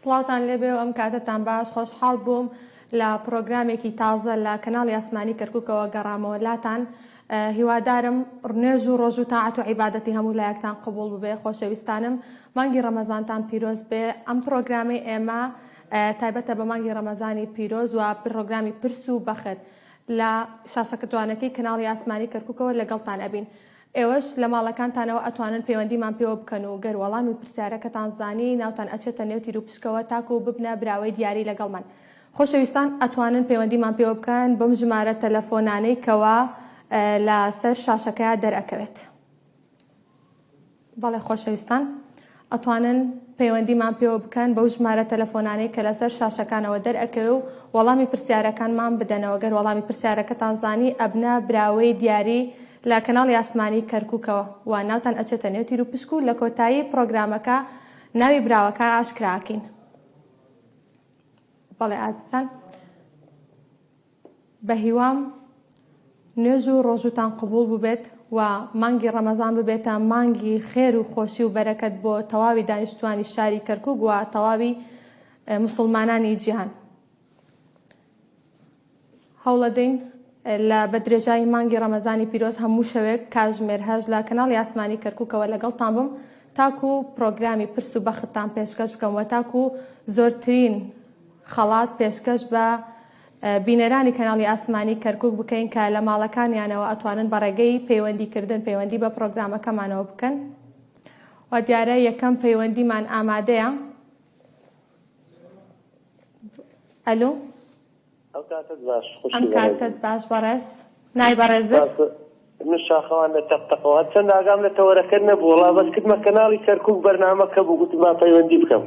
سڵاوتان لێبێ و ئەم کاتەتان باش خۆشحاڵ بووم لە پرۆگرامێکی تازە لە کەناڵی ئاسمانی کەرککەوە گەڕامەوە لاتان هیوادارم ڕنێژ و ڕۆژ و تاعات و عیباەتی هەموو لایەکتان قبول ببێ خۆشەویستانم مانگی ڕەمەزانتان پیرۆز بێ ئەم پرۆگرامی ئێمە تایبەتە بە مانگی ڕەمەزانی پیرۆز و پرۆگرامی پرس و بەخت لە شاشەکە جوانەکەی کەناڵی ئاسمانی کەرککەوە لەگەڵتان ئەبین ئێوەش لە ماڵەکانتانەوە ئەتوانن پەیوەندیمان پێوە بکەن و گەر وەڵامی پرسیارەکەتان زانی ناوتان ئەچێتە نێو تیروپشکەوە تاکو ببنە براوەی دیاری لەگەڵمان خۆشەویستان ئەتوانن پەیوەندیمان پێوە بکەن بەم ژمارە تەلەفۆنانەی کەوا لە سەر شاشەکەیا دەرئەکەوێت بەڵێ خۆشەویستان. ئەتوانن پەیوەندیمان پێوە بکەن بەو ژمارە تەلەفۆنانەی کە لەسەر شاشەکانەوە دەرئەکەوێ و وەڵامی پرسیارەکانمان بدەنەوە گەر وەڵامی پرسیارەکەتان زانی ئەبنە براوەی دیاری لە کەناڵی ئاسمانی کەرکوکەوە و ناوتان ئەچێتە نێو تیروپشک و لە کۆتایی پڕۆگرامەکە ناوی براوەکان ئاشکرا ئەکەین بەڵێ ئازیزان. بەهیوام نوێژ و ڕۆژووتان قبوڵ بووبێت و مانگی ڕەمەزان ببێتە مانگی خێر و خۆشی و بەرەکەت بۆ تەواوی دانیشتوانی شاری کەرکوک و تەواوی مسلمانانی جیهان هەوڵەدەین لە بەدرێژایی مانگی ڕەمەزانی پیرۆز هەموو شەوێک کاژمێر هەش لە کەناڵی ئاسمانی کەرکوکەوە لەگەڵتان بم تاکو پرۆگرامی پرس و بەختتان پێشکەش بکەم و تاکو زۆرترین خەڵات پێشکەش بە بینەرانی کەناڵی ئاسمانی کەرکوک بکەین کە لە ماڵەکانیانەوە ئەتوانن بە ڕێگەی پەیوەندی کردن پەیوەندی بە پرۆگرامەکەمانەوە بکەن و دیارە یەکەم پەیوەندیمان ئامادەیە ئەلو ئەم کاتت باش بەڕێز نای بەڕێزت من شاخەوان لە تەقتەقەوە چەند ئاگام لە تەوەرەکە نەبوو وڵا بەس کردمە کەناڵی کەرکک بەرنمەکە بوو گوتم با پەیوەندی بکەم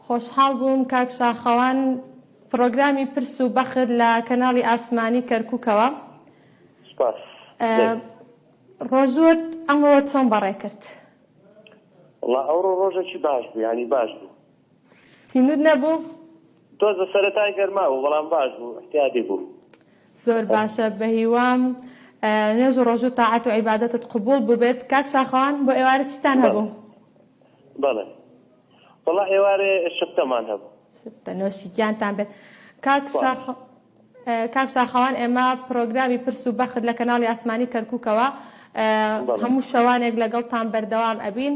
خۆشحاڵ بووم کاک شاخەوان پڕۆگرامی پرس و بەخت لە کەناڵی ئاسمانی کەرکووکەوە سپاس ڕۆژوت ئەمڕۆ چۆن بەڕێ کرد وڵا ئەوڕۆ ڕۆژێکی باش بوو ینی باش بوو تینود نەبوو تۆزە سەرەتای گەرما بوو بەڵام باش بوو احتیادی بوو زۆر باشە بە هیوام نوێژ و ڕۆژوو تاعات و عیباەتت قوبول ببێت کاک شاخوان بۆ ئێوارە چیتان هەبوو بەڵێ وەڵا ئێوارێ شفتەمان هەبوو شفتە نۆشی گیانتان بێت کاک شاخ کاک شاخەوان ئێمە پرۆگرامی پرس و بەخت لە کەناڵی ئاسمانی کەرککەوە هەموو شەوانێک لەگەڵتان بەردەوام ئەبین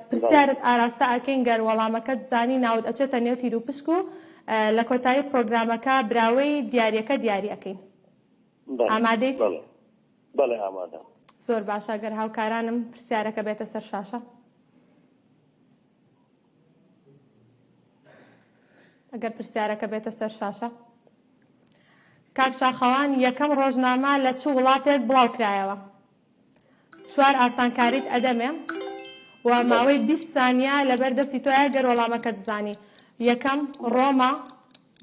پرسیارت ئاراستە ئەکەین گەر وەڵامەکەت زانی ناوت ئەچێتە نێو تیر و پشک و لە کۆتایی پرۆگرامەکە براوەی دیارەکە دیاری ئەەکەین ئامادەیت بەڵێ ئامادەم. زۆر باشە گەر هاوکارانم پرسیارەکە بێتە سەر شاشە. ئەگەر پرسیارەکە بێتە سەر شاشە. کاک شاخەوان یەکەم ڕۆژنامە لە چ وڵاتێک بڵاو کرایەوە؟ چوار ئاسانکاریت ئەدەمێ و ماوەی 20 سانیا لەبەر دەستی تۆیە گەر وەڵامەکە دزانی یەکەم ڕۆما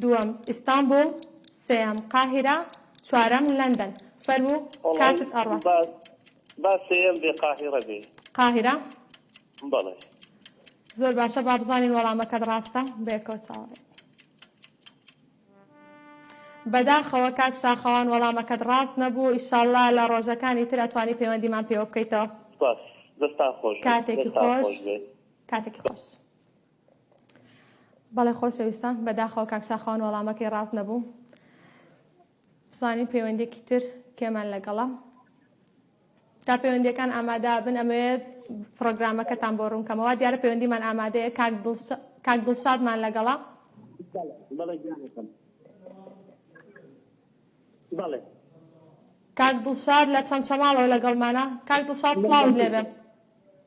دووەم، ئیستانبوڵ. سێیەم، قاهیرە. چوارەم، لەندەن. فەرموو کاتت ئەڕوات. وەڵای با با سێیەم بێ قاهیڕە بێ. قاهیرە؟ بەڵێ. زۆر باشە با بزانین وەڵامەکەت ڕاستە بەیەکەوە چاوەڕێ بەداخەوە کاک شاخەوان وەڵامەکەت ڕاست نەبوو ئیشاالله لە ڕۆژەکانی تر ئەتوانی پەیوەندیمان پێوە بکەیتەوە کاتێکی خۆش کاتێکی خۆش. بەڵێ خۆشەویستان بەداخەوە کاک شاخەوان وەڵامەکەی ڕاست نەبوو بزانین پەیوەندێکی تر کێمان لەگەڵە تا پەیوەندەکان ئامادا بن ئەمەوێت پرۆگرامەکەتان بۆ ڕوونکەمەوە دیارە پەیوەندیمان ئامادەیە کاک دڵشادمان لەگەڵە بەڵێ کاک دڵشار لە چەمچەماڵەوە لەگەڵمانە کاک دڵشار سڵاوت لێبێ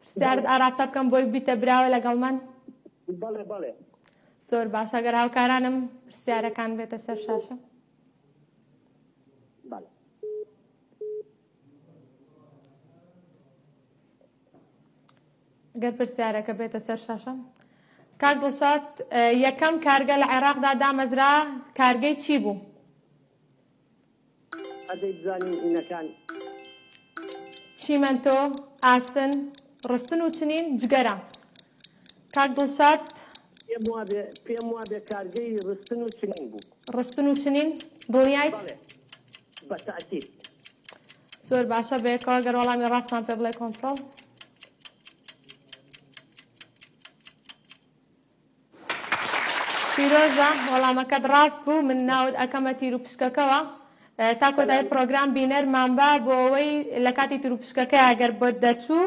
پرسیارت ئاراستە بکەم بۆی ببیتە براوە لەگەڵ من؟ بەڵێ بەڵێ زۆر باش ئەگەر هاوکارانم پرسیارەکان بێتە سەر شاشە بەڵێ گەر پرسیارەکە بێتە سەر شاشە کاک دڵشاد یەکەم کارگە لە عێراقدا دامەزرا کارگەی چی بوو؟ ئەدەی بزانین هینەکان. چیمەنتۆ، ئاسن، ڕستن و چنین، جگەرە. کاک دڵشاد. پێم وابێ، پێم وابێ کارگەی ڕستن و چنین بوو. ڕستن و چنین، دڵنیایت؟ بەڵێ، بە تاکید. زۆر باشە، بەیەکەوە گەر وەڵامی ڕاستمان پێ بڵێ کۆنتڕۆڵ. پیرۆزە وەڵامەکەت ڕاست بوو من ناوت ئەکەمە تیروپشکەکەوە تا کۆتای پرۆگرام بینەرمان بە بۆ ئەوەی لە کاتی تروپشکەکە ئەگەر بۆ دەرچوو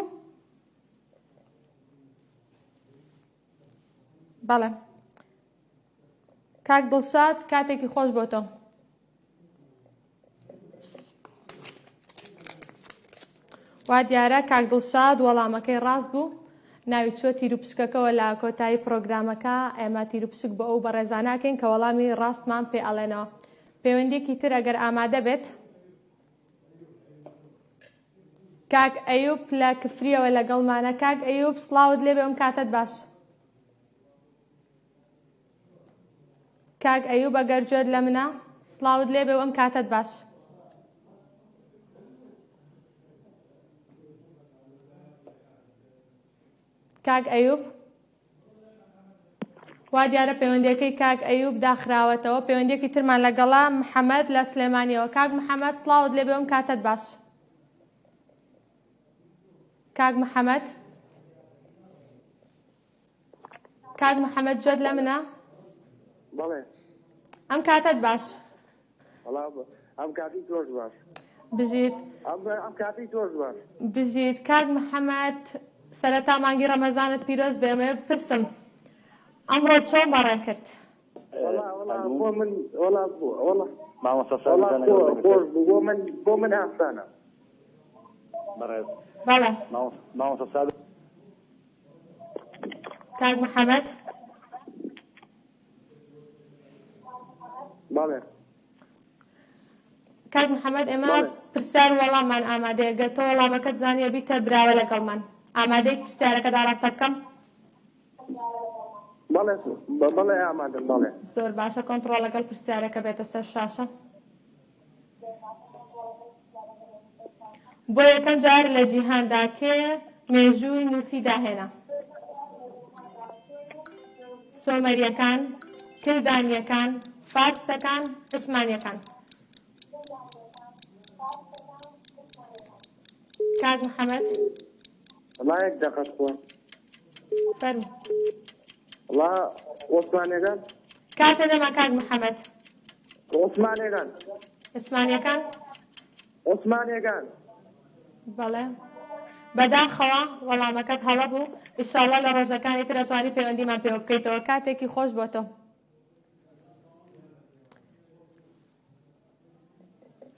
بەڵێ کاک دڵشاد کاتێکی خۆش بۆ تۆ وا دیارە کاک دڵشاد وەڵامەکەی ڕاست بوو ناوی چوە تیروپشکەکەوە لە کۆتایی پرۆگرامەکە ئێمە تیروپشک بۆ ئەو بەڕێزاناکەین کە وەڵامی ڕاستمان پێ ئەڵێنەوە پەیوەندێکی تر ئەگەر ئامادە بێت کاک ئەیوب لە کفریەوە لەگەڵمانە کاک ئەیوب سلااوت لێبێ ئەم کاتت باش کاک ئەیوب ئەگەر جۆت لە منە سڵاوت لێ بێ و ئەم کاتەت باش کاک ئەیوب وا دیارە پەیوەندەکەی کاک ئەیوب داخراوەتەوە پەیوەندێکی ترمان لەگەڵا محەممەد لە سلێمانیەوە کاک محەممەد سلااوت لێ بێم کاتت باش کاک محەممەد کاک محەممەد جۆت لە منە بەڵێ ئەم کاتت باش ئەم کاتی تۆش باش بژیت ئەم کاتی تۆش باش بژیت کاک محەممەد سەرەتا مانگی ڕەمەزانت پیرۆز بێمە پرسم ئەمڕۆ چۆن بەڕێ کرد بۆ من بۆ من ئاسانە بەڵێ ماوەسە کاک محمد بەڵێ کاک محمد ئێمە پرسیار وەڵاممان ئامادەیە گەر تۆ وەڵامەکەت زانیە بیتە براوە لەگەڵمان ئامادەی پرسیارەکە داڕاستە بکەم بەڵێ ئامادە بەڵێ زۆر باشە کۆنتڕۆڵ لەگەڵ پرسیارەکە بێتە سەر شاشە بۆ یەکەم جار لە جیهاندا کێ مێژووی نووسی داهێنا سۆمەریەکان کلدانیەکان فارسەکان عوسمانیەکان کاک محەممەد ڵایەک دەقەت خۆ فەرم ڵا وەسوانێگە کاتە دەما کاک محەممەد عوسمانێگان. عوسمانیەکان؟ عوسمانێگان. بەڵێ. بەداخەوە وەڵامەکەت هەڵە بوو ئیشاڵە لە ڕۆژەکانی ترە توانی پەیوەندیمان پێوە بکەیتەوە کاتێکی خۆش بۆ تۆ.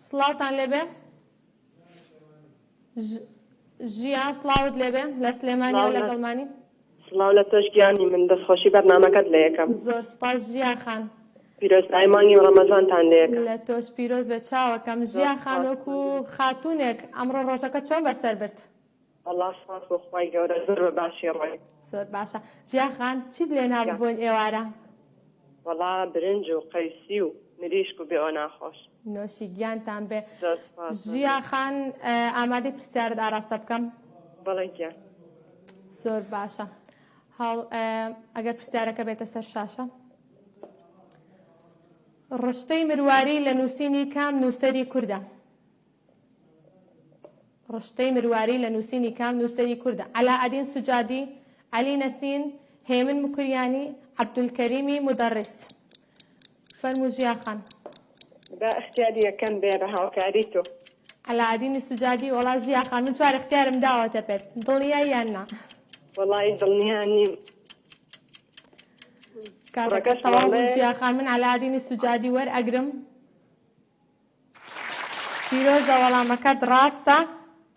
سڵاوتان لێبێ ژیا سڵاوت لێبێ لە سلێمانیەوە لەگەڵمانی سڵاو لە تۆش گیانی من دەستخۆشی بەرنمەکەت لە یەکەم زۆر سپاس ژیا خان پیرۆزبای مانگی و ڕەمەزانتان لە یەکەم لە تۆش پیرۆز بێ چاوەکەم ژیا خان وەکو خاتونێک ئەمڕۆ ڕۆژەکە چۆن بەسەر برد وەڵا سوپاس بۆ خوای گەورە زۆر بە باشی ڕۆی. زۆر باشە ژیا خان چیت لێ نا بۆن ئێوارە؟ وەڵا برنج و قەیسی و مریشک و بێ ئۆنا خۆش. نۆشی گیانتان بێ. زۆر سوپاس. ژیا خان ئامادەی پرسیارت ئاراستە بکەم؟ بەڵێ گیان. زۆر باشە هەڵ ئەگەر پرسیارەکە بێتە سەر شاشە. ڕشتەی مرواری لە نووسینی کام نووسەری کوردە؟ ڕشتەی مرواری لە نووسینی کام نووسەری کوردە؟ عەلائەدین سوجادی، عەلی نەسین، هێمن مکریانی، عەبدولکەریمی مودەڕیس. فەرموو ژیا خان. با ئیختیاری یەکەم بێ بە هاوکاری تۆ. عەلائەدینی سوجادی، وەڵا ژیا خان من چوار ئیختیارم داوەتە پێت، دڵنیای یان نا؟ وەڵایی دڵنیا نیم. کاتەکەت کوڕەکەش تەواو بوو دەڵێ. ژیا خان، من عەلائەدینی سوجادی وەرئەگرم. پیرۆزە وەڵامەکەت ڕاستە.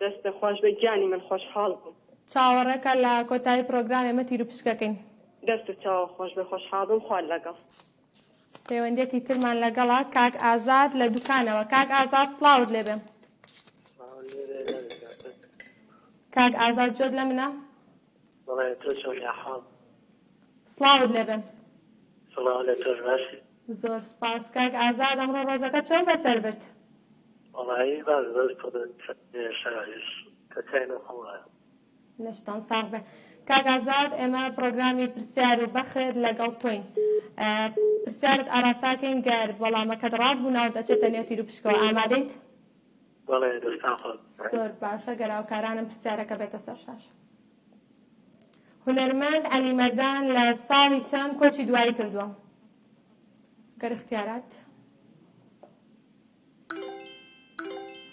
دەستت خۆش بێت گیانی من خۆشحاڵ بووم. چاوەڕێکە لە کۆتایی پرۆگرام ئێمە تیروپشکەکەین. دەست و چاوت خۆش بێت خۆشحاڵ بووم خوات لەگەڵ. پەیوەندیەکی ترمان لەگەڵە کاک ئازاد لە دوکانەوە کاک ئازاد سڵاوت لێبێ. کاک ئازاد جۆت لە منە؟ بەڵێ تۆ چۆنی ئەحواڵ؟ سڵاوت لێبێ. سڵاو لە تۆش باشی؟ زۆر سپاس کاک ئازاد ئەمڕۆ ڕۆژەکەت چۆن بەسەر برد؟ وەڵایی باش زۆر شاش کە چای نۆ خۆم وایە. لەشتان ساغ بێ کاک ئازاد ئێمە پرۆگرامی پرسیار و بەخت لەگەڵ تۆین پرسیارت ئاراستاکەین گەر وەڵامەکەت ڕاست بوو ناوت ئەچێتە نێو تیر و پشکەوە ئامادەیت؟ بەڵێ دەستان خۆش. زۆر باشە گەراوکارانم پرسیارەکە بێتە سەر شاشە. هونەرمەند علی مردان لە ساڵی چەند کۆچی دوایی کردووە گەر اختیارات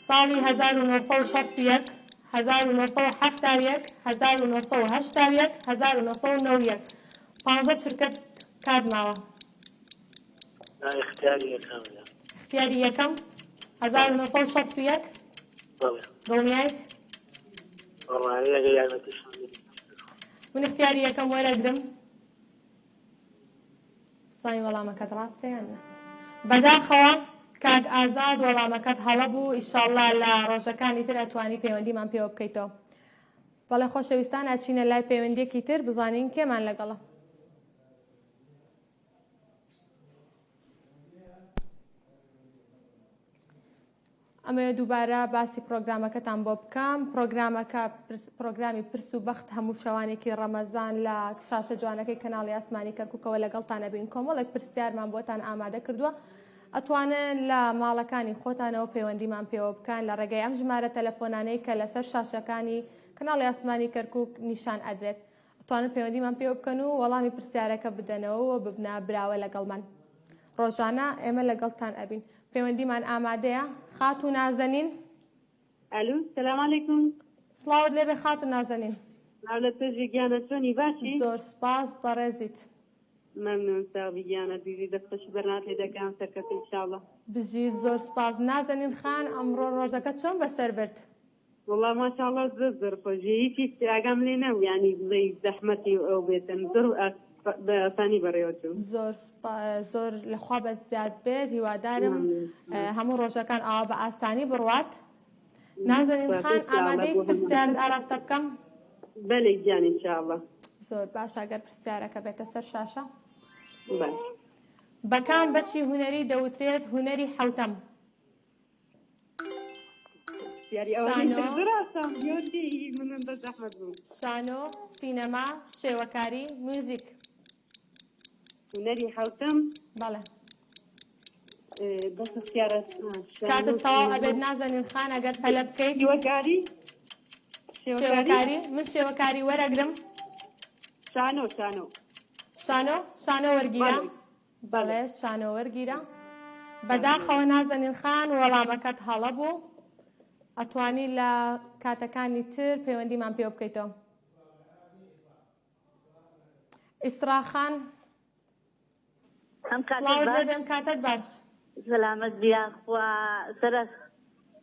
ساڵی 1960 1970 1970 1990 پانزە چرکەت کات ماوە اختیاری یەکەم اختیاری یەکەم هەزار و نۆ سەد و شەست و یەک دڵنیایت من اختیاری یەکەم وەرەگرم سای وەڵامەکەت ڕاستە یان نە بەداخەوە کاک ئازاد وەڵامەکەت هەڵە بوو ئیشاءله لە ڕۆژەکانی تر ئەتوانی پەیوەندیمان پێوە بکەیتەوە بەڵێ خۆشەویستان ئەچینە لای پەیوەندێکی تر بزانین کێمان لەگەڵە ئەمەوێ دووبارە باسی پرۆگرامەکەتان بۆ بکەم پرۆگرامەکە پرۆگرامی پرس و بەخت هەموو شەوانێکی ڕەمەزان لە شاشە جوانەکەی کەناڵی ئاسمانی کەرککەوە لەگەڵتانە بین کۆمەڵێک پرسیارمان بۆتان ئامادە کردووە ئەتوانن لە ماڵەکانی خۆتانەوە پەیوەندیمان پێوە بکەن لە ڕێگەی ئەم ژمارە تەلەفۆنانەی کە لەسەر شاشەکانی کەناڵی ئاسمانی کەرکک نیشان ئەدرێت توانن پەیوەندیمان پێوە بکەن و وەڵامی پرسیارەکە بدەنەوە و ببنە براوە لەگەڵمان ڕۆژانە ئێمە لەگەڵتان ئەبین پەیوەندیمان ئامادەیە خات و نازەنین ئەلو سلام علیکم سڵاوت لێبێ خات و نازەنین لە تۆژی گیانە چۆنی باشی زۆر سپاس بەڕێزیت مەمنون ساوی گیانە بیوی دەستەش بەرنات لێ دەکەم سەرکەفی شاڵە بژی زۆر سپاس نازەنین خان ئەمڕۆ ڕۆژەکە چۆن بەسەر برد وەڵا ماشاڵا زۆر زۆر خۆش بێ یەکێک ئاگام لێ نەبوو یانی بڵێی زەحمەتی و ئەو بێتن زۆر بە ئاسانی بەڕێوە چوو. زۆر سوپا زۆر لە خوا بەس زیاد بێت هیوادارم هەموو ڕۆژەکان ئاوا بە ئاسانی بڕوات نازەنین خان ئامادەی پرسیارت ئاراستە بکەم بەلێ گیان ان شاء الله زۆر باش ئەگەر پرسیارەکە بێتە سەر شاشە باش بەکام بەشی هونەری دەوترێت هونەری حوتەم شانۆ، سینەما، شێوەکاری، موزیک. هونەری حەوتەم. بەڵێ. کاتت تەواو ئەبێت نازەنین خان ئەگەر پەلە بکەیت شێوەکاری شێوەکاری من شێوەکاری وەرەگرم شانۆ شانۆ شانۆ شانۆ وەرگیرە بەڵێ شانۆ وەرگیرە بەداخەوە نازەنین خان وەڵامەکەت هەڵە بوو ئەتوانی لە کاتەکانی تر پەیوەندیمان پێ بکەیتەوە ئیسراخان ئەم کاتێ سڵاوت لێ باش بێم کاتت باش سەلامەت بیاخوا سەرە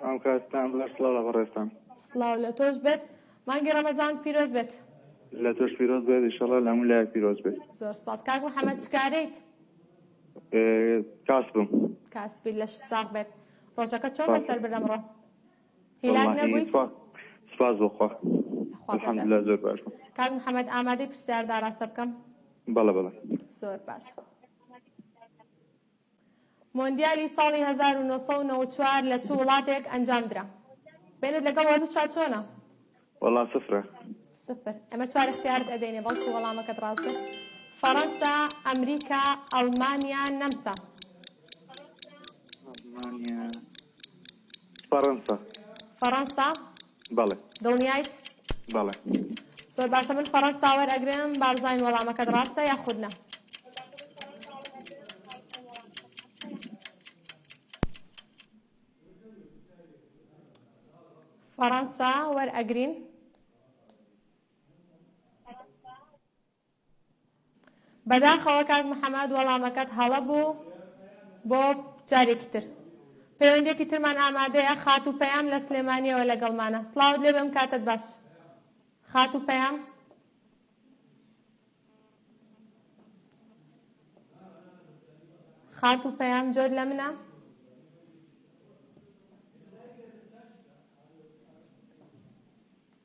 سڵاو کاکتان باش سڵاو لە بەڕێزتان. سڵاو لە تۆش بێت مانگی ڕەمەزانت پیرۆز بێت. لە تۆش پیرۆز بێت ئیشەڵا لە هەموو لایەک پیرۆز بێت. زۆر سپاس کاک محەمەد چ کارەیت؟ کاسبم. کاسبی لەشت ساغ بێت. ڕۆژەکەت چۆن بەسەر برد ئەمڕۆ؟ هیلاک نەبوویت؟ سپاس بۆ خوا الحمدللە زۆر باش بووم. کاک محەمەد ئامادەی پرسیارت ئاراستە بکەم؟ بەڵێ بەڵێ. زۆر باشە. مۆندیالی ساڵی هەزار و نۆ سەد و نەوەد و چوار لە چ وڵاتێک ئەنجام درا؟ بەینت لەگەڵ وەرزشا چۆنە؟ وەڵا سفرە. سفر. ئەمە چوار اختیارت ئەدەینێ بەڵکو وەڵامەکەت ڕاستە. فەڕەنسا، ئەمریکا، ئەڵمانیا، نەمسا. فەڕەنسا. فەڕەنسا. بەڵێ. دڵنیایت؟ بەڵێ. زۆر باشە من فەڕەنسا وەرئەگرم بارزاین وەڵامەکەت ڕاستە یاخود نا؟ فەڕەنسا وەرئەگرین. بەداخەوە کاک محەمەد وەڵامەکەت هەڵە بوو بۆ جارێکی تر پەیوەندێکی ترمان ئامادەیە خات و پەیام لە سلێمانیەوە لەگەڵمانە سلااوت لێ بم کاتت باش خات و پەیام خات و پەیام جۆر لە منە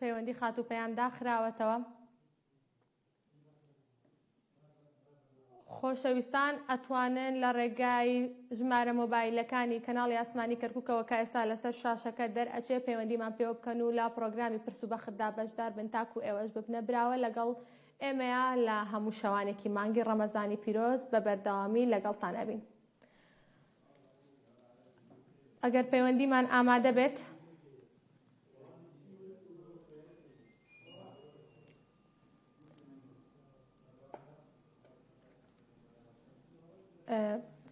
پەیوەندی خاتوو پەیام داخراوەتەوە خۆشەویستان ئەتوانن لە ڕێگای ژمارە مۆبایلەکانی کەناڵی ئاسمانی کەرککەوە کە ئێستا لەسەر شاشەکە دەرئەچێ پەیوەندیمان پێوە بکەن و لە پرۆگرامی پرس و بەخدا بەشدار بن تاکو ئێوەش ببنە براوە لەگەڵ ئێمەیە لە هەموو شەوانێکی مانگی ڕەمەزانی پیرۆز بە بەردەوامی لەگەڵتان ئەبین ئەگەر پەیوەندیمان ئامادە بێت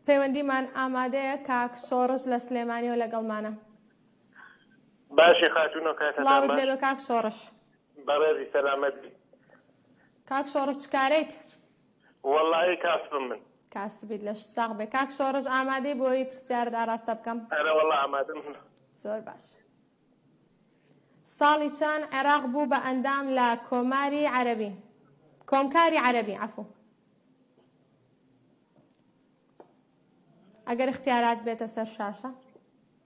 پەیوەندیمان ئامادەیە کاک سۆڕز لە سلێمانیەوە لەگەڵمانە باشی خاتونەکە کاک سۆڕش بەڕێزی سەلامەت کاک سۆڕش چکارێت؟ وەڵا ی کاسبم من. کاسبیت لەشت ساغ بێ کاک شۆڕش ئامادەی بۆی پرسیارت ئاراستە بکەم؟ ئەرە وەڵا ئامادەم. زۆر باش ساڵی چەن عێراق بوو بە ئەندام لە کۆماری عەرەبی کۆمکاری عەرەبی عفو ئەگەر اختیارات بێتە سەر شاشە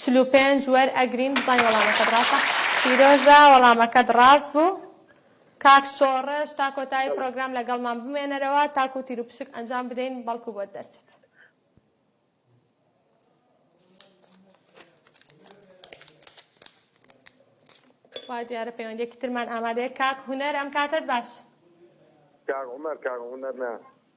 چل و پێنج وەر ئەگرین بزانین وەڵامەکەت ڕاستە پیرۆزە وەڵامەکەت ڕاست بوو کاک شۆڕش تا کۆتایی پرۆگرام لەگەڵمان بمێنەرەوە تاکو تیر و پشک ئەنجام بدەین بەڵکو بۆت دەرچێت وا دیارە پەیوەندێکی ترمان ئامادەیە کاک هوەر ئەم کاتت باش کاک عمر کاک هوەر نا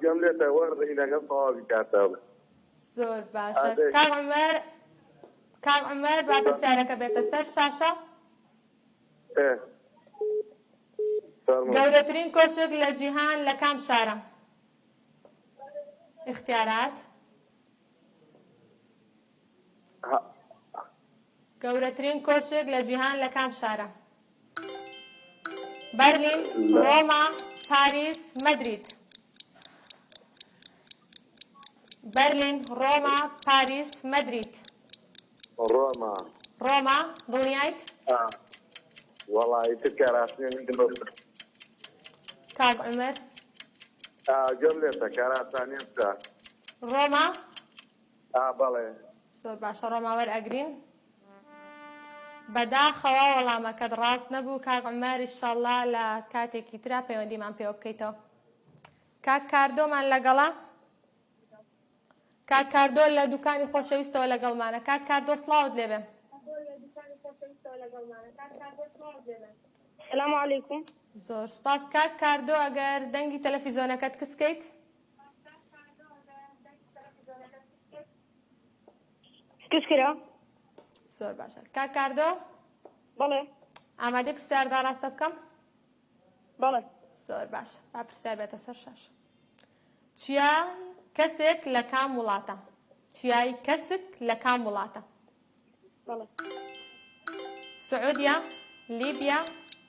گوێم لێت ئەوە ڕینەکەم تەواوی کاتەوە زۆر باشە کاک عمر کاک عمر با پرسیارەکە بێتە سەر شاشە گەورەترین کۆشک لە جیهان لە کام شارە اختیارات گەورەترین کۆشک لە جیهان لە کام شارە؟ بەرلین، ڕۆما، پاریس، مەدرید. بەرلین، ڕۆما، پاریس، مەدرید. ڕۆما. ڕۆما، دڵنیایت؟ وەڵای تر کە ڕاستنی من دڵ. کاک عومەر. گەم لێتە کاراسانیان سا. ڕۆما؟ ئا بەڵێ. زۆر باشە ڕۆما وەرئەگرین. بەداخەوە وەڵامەکەت ڕاست نەبوو کاک عمر ئیشەڵا لە کاتێکی ترا پەیوەندیمان پێوە بکەیتەوە کاک کاردۆمان لەگەڵە کاک کاردۆ لە دوکانی خۆشەویستەوە لەگەڵمانە کاک کاردۆ سلااوت لێبێ سلام علیکم زۆر سپاس کاک کاردۆ ئەگەر دەنگی تەلەفیزۆنەکەت کسکەیت کچ کرا زۆر باشە کاک کاردۆ بەڵێ ئامادە پرسیار داڕاستە بکەم بەڵێ زۆر باشە با پرسیار بێتە سەر شاش چیا کەسێک لە کام وڵاتە چیای کەسک لە کام وڵاتە سعودیە لیبیا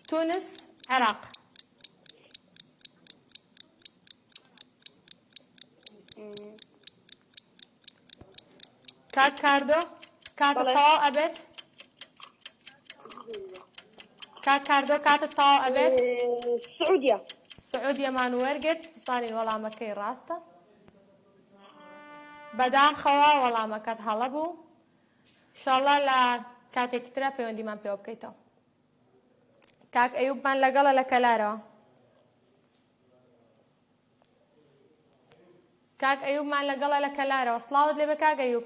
تونس عێراق کاک کاردۆ کاتە تەواو ئەبێت کاک کاردۆ کاتە تەواو ئەبێت سعودیە سعودیەمان وەرگرت بزانین وەڵامەکەی ڕاستە بەداخەوە وەڵامەکەت هەڵە بوو شاڵا لە کاتێکی ترا پەیوەندیمان پێوە بکەیتەوە کاک ئەیوبمان لەگەڵە لە کەلارەوە کاک ئەیوبمان لەگەڵە لە کەلارەوە سلااوت لێ بە کاک ئەیوب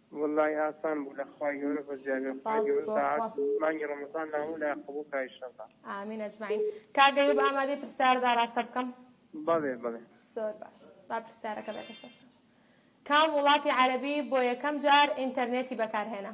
وەللەی ئاسان بوو لەخوای گەورە بەزیادە خوای گەورە سەعات مانگی ڕەمەزان نامۆ لای قبوڵ کا ئیشەڵا. ئامین ئەجمعین کاک ئەیوب ئامادەی پرسیار ئاراستە بکەم؟ بەڵێ بەڵێ. زۆر باش با پرسیارەکە بێتە سەر شاشە. کام وڵاتی عەرەبی بۆ یەکەم جار ئینتەرنێتی بەکارهێنا؟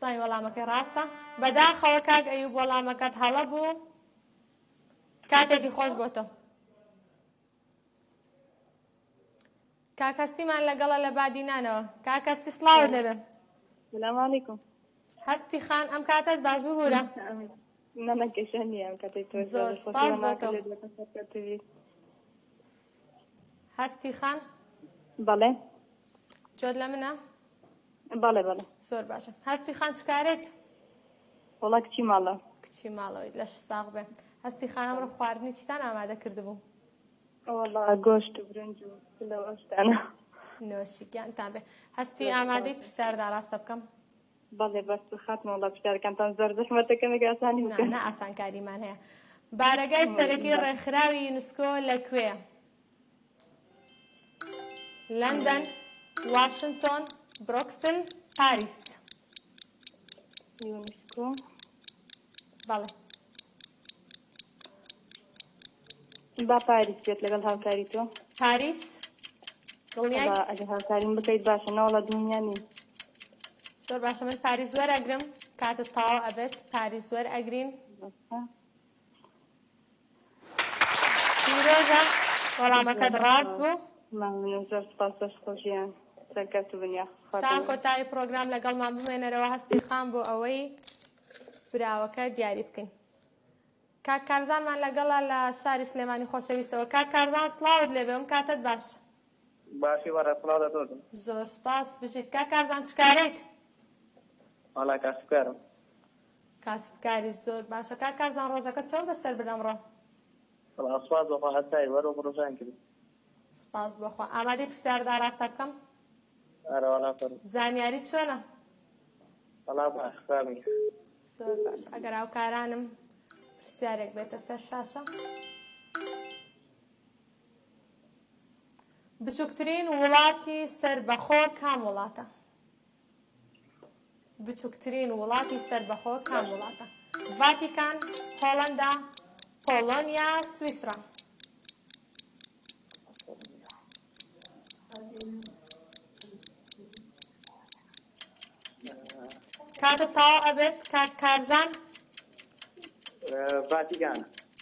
زای وەڵامەکەی ڕاستە بەداخەوە کاک ئەیوب وەڵامەکەت هەڵە بوو کاتێکی خۆش بۆ تۆ کاکەستیمان لەگەڵە لە بادینانەوە کاکەستی سلااوت لەبێ سلامعیکم هەستی خان ئەم کاتت باش ببوورە نەمەکەشە نیە ئەم کاتێک تۆ زۆر سپاس بۆ تۆ. هەستی خان بەڵێ جۆت لە منە؟ بەڵێ بەڵێ زۆر باشە هەستی خان چکارێت؟ وڵا کچی ماڵە کچی ماڵەوەی لەش ساغ بێ هەستی خانم ڕە خواردنی چتان ئامادە کردبوو وڵا گۆشت و برنج و لەو ئەشتانە نۆشیکیان تا بێ هەستی ئامادەی پرسیاردا ڕاستە بکەم بەڵێ بەس خاتمە وڵا پرسیارکانتان زۆر زەحمەتەکەمێک ئاسانی بکەن ئاسانکاریمان هەیە بارەگای سەرەکی ڕێکخراوی یونسکۆ لە کوێە؟ لەندەن واشنتۆن برۆکسل پاریس یونسکۆ بەڵێ با پاریس بێت لەگەڵ هاوکاری تۆ پاریس ئەگە هاوکاریم بکەیت باشە ناوڵە دنیا نی زۆر باشە من پاریس وەرەگرم کاتە تاوە ئەبێت پاریس وەر ئەگرین پیرۆزە وەڵامەکەت ڕاست بوو مەمنون زۆر سپاس دەست خۆشیان سەرکەت بن یا تا کۆتایی پرۆگرام لەگەڵمان بمێنەرەوە هەستی خان بۆ ئەوەی براوەکە دیاری بکەین کاک کارزانمان لەگەڵا لە شاری سلێمانی خۆشەویستەوە کاک کارزان سلااوت لێ بێم کاتت باش باشی بەڕێ سلااو لە دۆزم زۆر سپاس بژیت کاک کارزان چکارێت وڵا کاسکارم کاسب کاری زۆر باشە. کاک کارزان ڕۆژەکەت چۆن بەسەر برد ئەمڕۆ؟ بەڵا سوپاس بەخوا هەستای وەرە و بڕۆژان کرد سپاس بۆخوا ئامادەی پرسیارت ئاراستە بکەم ئارەوالا فەر زانیاری چۆنە بەڵا بەخرامی زۆر باش ئەگەر هاوکارانم پرسیارێک بێتە سەر شاشە بچووکترین وڵاتی سەر بەخۆ کام وڵاتە بچوکترین وڵاتی سەربەخۆ کام وڵاتە ڤاتیکان هۆڵندا پۆڵۆنیا سویسرا کاتە تاوا ئەبێت کاک کارزان ڤاتیکان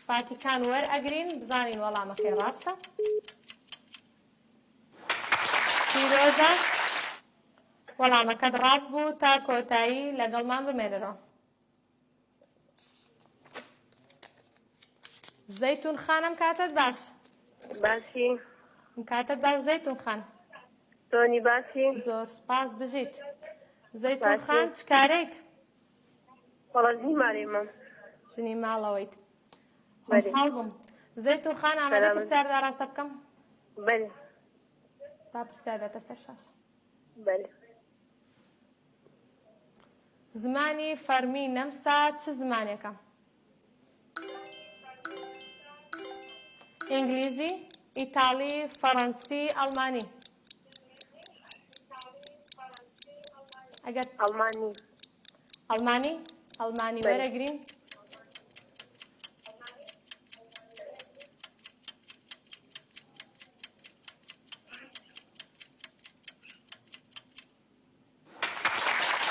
ڤاتیکان وەرئەگرین بزانین وەڵامەکەی ڕاستە پیرۆزە وەڵامەکەت ڕاست بوو تا کۆتایی لەگەڵمان بمێنەرەوە زەیتون خانم کاتت باش باشی کاتت باش زەیتون خان تۆنی باشی زۆر سپاس بژیت زەیتون خان چکارەیت وەڵژنی مارێمە ژنی ماڵەوەیت خۆشحاڵ بووم زەیتون خان ئامادە پرسیاردا ڕاستە بکەم بەێ با پرسیار بێتە سەر شاش بەل زمانی فەرمی نەمسا چ زمانێکە ئینگلیزی ئیتاڵی فەڕەنسی ئەڵمانی ئەگەر ئەڵمانی ئەڵمانی ئەڵمانی وەرەگرین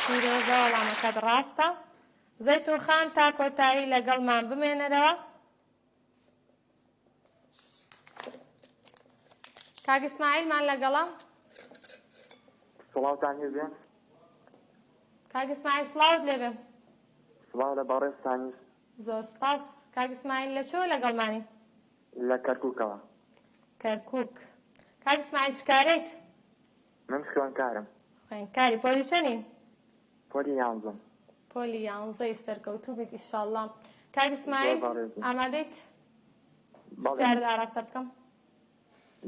پیرۆزە وەڵامەکەت ڕاستە زەیتون خان تا کۆتایی لەگەڵمان بمێنەرەوە کاک ئیسماعیلمان لەگەڵە سڵاوتان هێزێ کاک ئیسماعیل سڵاوت لێبێ سڵاو لە بەڕێزتانیش زۆر سپاس کاک ئیسماعیل لە چۆ لەگەڵمانی لە کەرکووکەوە کەرکووک کاک ئیسماعیل چ کارێک من خوێنکارم. خوێنکاری پۆلی چەنی؟ پۆلی یانزم. پۆلی یانزەی سەرکەوتوو بیت ئیشاءاللە. کاک ئیسماعیل ئامادەیت؟ سیارت ئاراستە بکەم؟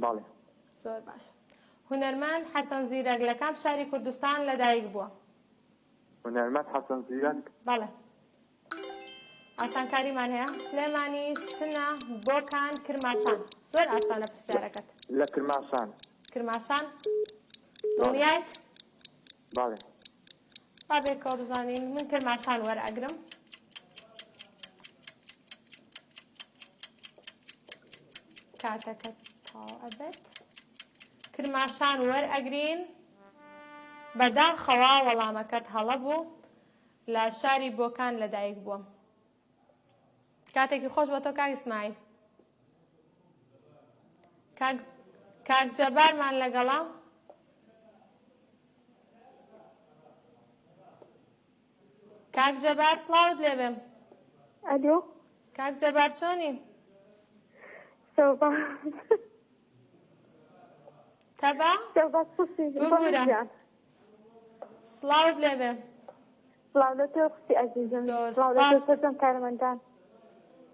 بەڵێ. زۆر باش. هونەرمەند حەسەن زیرەک لە کام شاری کوردستان لەدایک بووە؟ هونەرمەند حەسەن زیرەک؟ بەڵێ. ئاسانکاریمان هەیە سلێمانی سنە بۆکان کرماشان زۆر ئاسانە پرسیارەکەت لە کرماشان کرماشان دڵنیایت باڵێ با بێکەوە بزانین من کرماشان وەرئەگرم کاتەکە تاو ئەبێت کرماشان وەرئەگرین بەداخەوە وەڵامەکەت هەڵە بوو لە شاری بۆکان لەدایک بووم کاتێکی خۆش بە تۆ کاک ئیسماعیل کاک جەبارمان لەگەڵا کاک جەبار سڵاوت لێ بێم ئەلۆ کاک جەبار چۆنی تەبا ببورە سڵاوت لێ بێ سڵاو لە تۆ خوشی ئەزیزم زۆر سڵاو لە تۆ سپاس. سەرجەم کارمەندان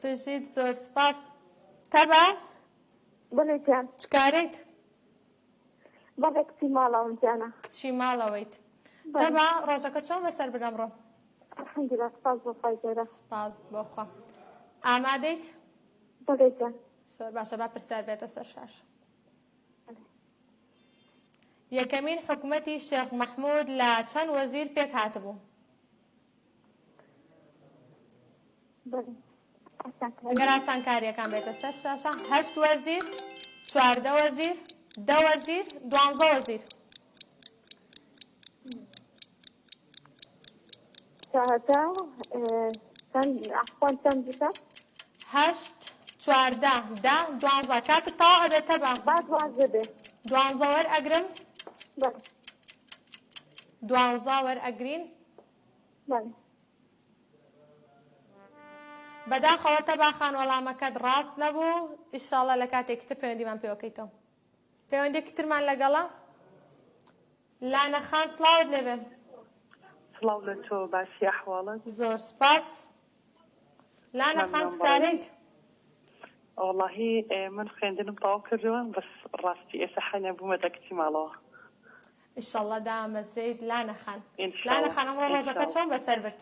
بژیت زۆر سپاس تەبا بەڵێ جان چ کارێت بەڵێ کچی ماڵەوەم جانە کچی ماڵەوەیت بەڵێ. تەبا ڕۆژەکە چۆن بەسەر برا بڕۆ الحمدلله سپاس بۆ خوای گەورە سپاس بۆخوا ئامادەیت بەڵێ جان زۆر باشە با پرسیار بێتە سەر شاش بەڵێ. یەکەمین حکومەتی شێخ مەحمود لە چەند وەزیر پێک هاتبوو؟ گەر ئاسانکاریەکان بێتە سەر شاشە هەشت وەزیر چواردە وەزیر دە وەزیر دوانزە وەزیر تاهەتا چەند ئەحسان چەند بکە هەشت چواردە دە دوانزە کاتت تاو ئەبێتە بە با دوازدە بێ دوانزە وەر ئەگرم بەڵێ دوانزە وەر ئەگرین بەڵێ بەداخەوە تەبا خان وەڵامەکەت ڕاست نەبوو ئیشاڵە لە کاتێکی تر پەیوەندیمان پێوەکەیتەوە پەیوەندێکی ترمان لەگەڵە لانە خان سڵاوت لێبێ سڵاو لە تۆ باسی ئەحواڵت زۆر سپاس لانە خان چکارێت وڵاهی من خوێندنم تاو کردووە بەس ڕاستی ئێستا حەنە بوومە دەکتی ماڵەوە ئیشەڵڵە دامەزرێیت لانە خان لانە خانم ڕۆژەکە چۆن بەسەر برد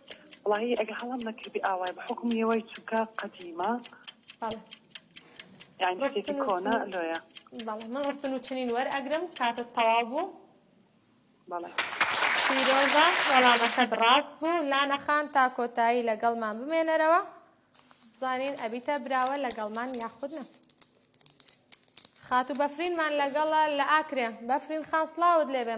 وەڵاهی ئەگە هەڵەم نەکردبێ ئاوای بە حوکم یەوەی چونکە قەدیمە. بەڵێ یانی ڕستن شتێکی و کۆنە چنین لۆیە بەڵێ من ڕستن و چنین وەرئەگرم کاتت تەواو بوو. بەڵێ. پیرۆزە وەڵامەکەت ڕاست بوو لانە خان تا کۆتایی لەگەڵمان بمێنەرەوە بزانین ئەبیتە براوە لەگەڵمان یاخود نا خاتوو بەفرینمان لەگەڵە لە ئاکرێ بەفرین خان سڵاوت لێبێ.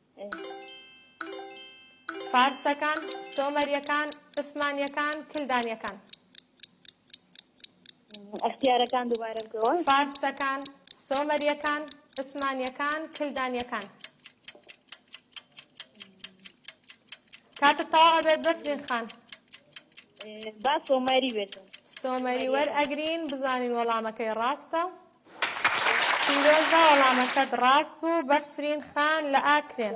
فارسەکان، سۆمەریەکان، عوسمانیەکان، کلدانیەکان. اختیارەکان دووبارە بکەوە. فارسەکان، سۆمەریەکان، عوسمانیەکان، کلدانیەکان. کاتت تەوا ئەبێت بەفرین خان. با سۆمەری بێت. سۆمەری وەرئەگرین بزانین وەڵامەکەی ڕاستە. پیرۆزە وەڵامەکەت ڕاست بوو بەفرین خان لە ئاکرێ.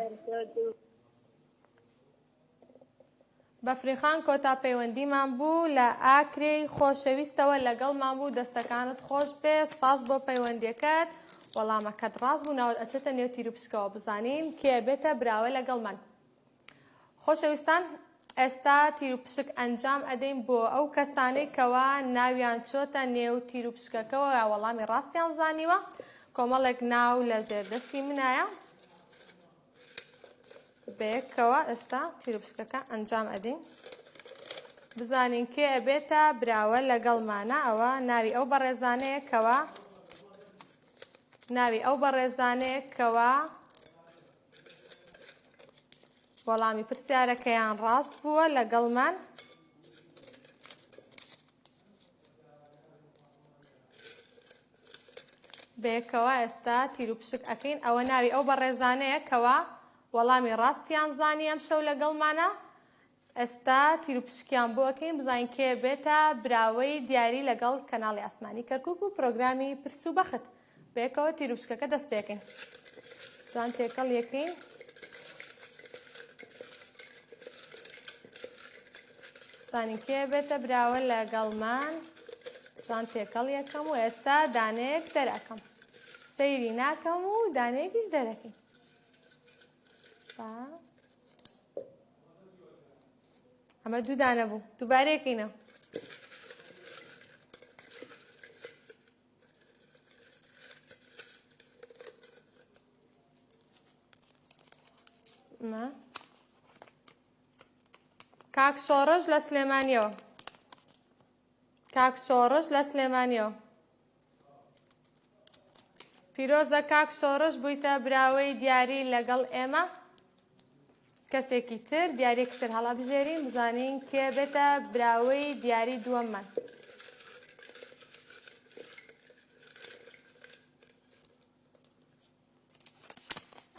بەفرین خان کۆتا پەیوەندیمان بوو لە ئاکرێی خۆشەویستەوە لەگەڵمان بوو دەستەکانت خۆش بێ سپاس بۆ پەیوەندیەکەت وەڵامەکەت ڕاست بوو ناوت ئەچێتە نێو تیروپشکەوە بزانین کێ ئەبێتە براوە لەگەڵمان. خۆشەویستان ئێستا تیروپشک ئەنجام ئەدەین بۆ ئەو کەسانەی کەوا ناویان چۆتە نێو تیروپشکەکەەوە یا وەڵامی ڕاستیان زانیوە کۆمەڵێک ناو لە ژێردەستی منایە بەیەکەوە ئێستا تیروپشکەکە ئەنجام ئەدەین بزانین کێ ئەبێتە براوە لەگەڵمانە ئەوە ناوی ئەو بەڕێزانەیە کەوە ناوی ئەو بەڕێزانەیە کەوە وەڵامی پرسیارەکەیان ڕاست بووە لەگەڵمان بەیەکەوە ئێستا تیروپشک ئەەکەین ئەوە ناوی ئەو بەڕێزانەیە کەوا وەڵامی ڕاستیان زانی ئەم شەو لەگەڵمانە ئێستا تیرو پشکیان بۆ ئەکەین بزانین کێ بێتە براوەی دیاری لەگەڵ کەناڵی ئاسمانی کەرکک و پرۆگرامی پرس و بەخت بەیەکەوە تیرو پشکەکە دەست پێکەین جوان تێکەڵ یەکەین زانین کێ بێتە براوە لە گەڵمان جوان تێکەڵ یەکەم و ئێستا دانەیەک دەرەکەم سەیری ناکەم و دانەیەکیش دەرەکەین ئەمە دوو دانە بوو دووبارەیەکەینە کاک شۆڕش لە سلێمانیەوە کاک شۆڕش لە سلێمانیەوە پیرۆزە کاک شۆڕش بوویتە براوەی دیاری لەگەڵ ئێمە کەسێکی تر دیارێکی تر هەڵە بژێرین بزانین کێ بێتە براوەی دیاری دووەممان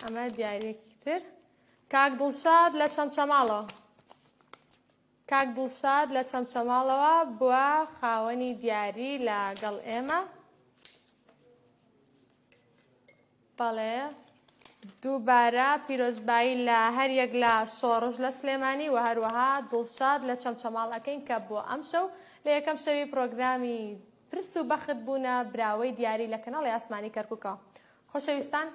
ئەمە دیارێکی تر کاک دڵشاد لە چەمچەماڵەوە کاک دڵشاد لە چەمچەماڵەوە بوە خاوەنی دیاری لە گەڵ ئێمە بەڵێ دووبارە پیرۆزبایی لە هەر یەک لە شۆڕش لە سلێمانی و هەروەها دڵشاد لە چەمچەماڵ ئەەکەین کە بۆ ئەم شەو لە یەکەم شەوی پرۆگرامی پرس و بەخت بوونە براوەی دیاری لە کەناڵی ئاسمانی کەرککەوە خۆشەویستان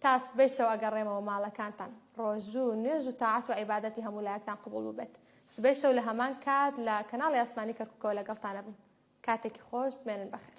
تا سبەی شەو ئەگەڕێمەوە ماڵەکانتان ڕۆژو نوێژ و تاعەت و عیبادەتی هەموو لایەکتان قبوڵ ببێت سبەی شەو لە هەمان کات لە کەناڵی ئاسمانی کەرکوکەوە لەگەڵتانەبم کاتێکی خۆش بمێنن بەخێر